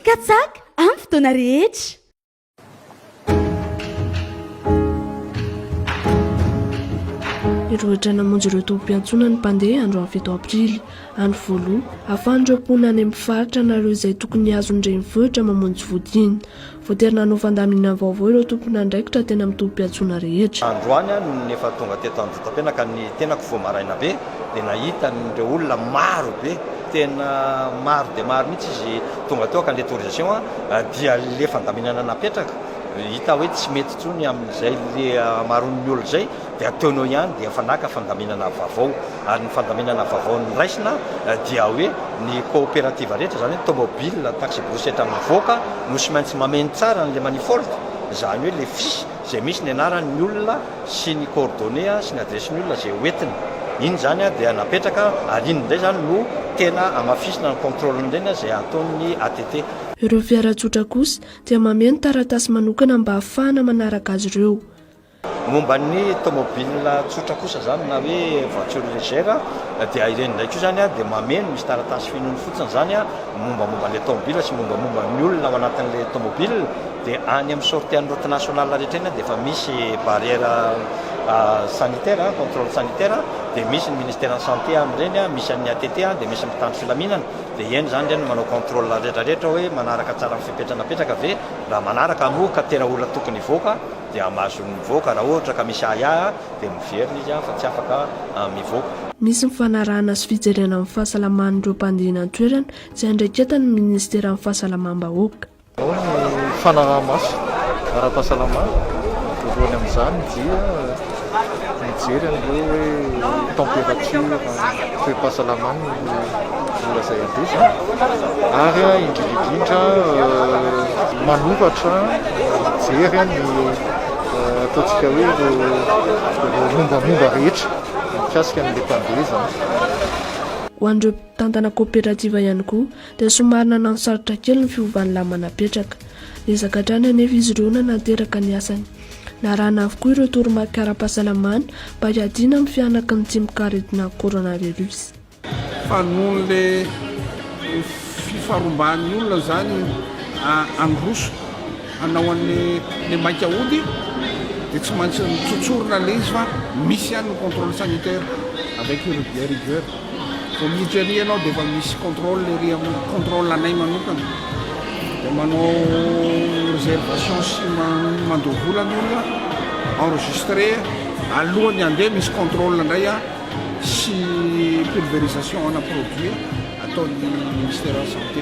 Katsaka amin'ny fotoana rehetra. Hirohotra namonjy ireo tobim-piantsonana ny mpandeha androany fito aprily, any Volou. Ahafahan'ireo mponina any amin'ny faritra na ireo izay tokony hihazo ny renivohitra mamonjy vody iny. Voatery nanao fandaminana vaovao ireo tompon'andraikitra tena mitompo-piantsoana rehetra. Androany aho no efa tonga teto Anjitapenaka, ny tenako vao maraina be dia nahita an'ireo olona maro be, tena maro dia maro mihitsy izy tonga teo ka ilay torisation dia ilay fandaminana napetraka hita hoe tsy mety intsony amin'izay le hamaroan'ny olona izay. dia ataonao ihany dia efa naka fandaminana vaovao ary ny fandaminana vaovao noraisina dia hoe ny coopérative rehetra izany hoe tomobile, taxi-brousse etra mivoaka no sy maintsy mameno tsara an'ilay manifold izany hoe ilay fiche izay misy ny anaran'ny olona sy ny coordonnées sy ny adiresin'ny olona izay ho entiny iny izany dia napetraka ary iny indray izany no tena hamafisina ny contrôle-n'ireny izay ataon'ny ATT. Ireo fiara tsotra kosa dia mameno taratasy manokana mba hahafahana manaraka azy ireo. Momba ny tomobile tsotra kosa izany na hoe voiture légère dia ireny indray koa izany dia mameno, misy taratasy fenoiny fotsiny izany mombamomba an'ilay tomobile sy mombamomba ny olona ao anatin'ilay tomobile dia any amin'ny sortie an'ny route nationale rehetra eny dia efa misy barrière sanitaire, contrôle sanitaire, dia misy ny ministeran'ny santé amin'ireny, misy an'ny ATT dia misy ny mpitandro filaminana dia eny izany ireny no manao contrôle rehetrarehetra hoe manaraka tsara ny fepetra napetraka ve, raha manaraka moa ka tena olona tokony hivoaka. dia hamaso ny mivoaka raha ohatra ka misy ahiahy dia miverina izy fa tsy afaka mivoaka. Nisy ny fanarahana sy fijerena ny fahasalaman'ireo mpandehina an-toerana izay andraiketan'ny minisiteran'ny fahasalamam-bahoaka. Ao ny fanaraha-maso ara-pahasalamana, voalohany amin'izany dia. mijery an'ireo hoe temperature toe-pahasalamany no mora zay andesiny ary indrindrindrindra manoratra mijery ny ataontsika hoe ireo mombamomba rehetra mikasika an'ilay mpandeha zany. Ho an'ireo mpitantana coopérative ihany koa dia somary nananosarotra kely ny fiovan'ny lamana apetraka. Niezaka hatrany anefa izy ireo nanateraka ny asany. Narahana avokoa ireo toromarika ara-pahasalamana mba hiadiana amin'ny fihanaky ny tsimok'aretina coronavirus. Fa noho ilay fifaromban'ny olona izany handroso hanao an'ilay maika hody dia tsy maintsy mitsotsorona ilay izy fa misy ihany ny contrôle sanitaire avec le rigueur. Vao miditra ery ianao dia efa misy contrôle ery amin'ny contrôle anay manokana. Dia manao réservation sy mandoa vola ny olona, enregistré. Alohan'ny handeha misy contrôle indray sy pulvérisation ana produit ataon'ny Ministère de la Santé.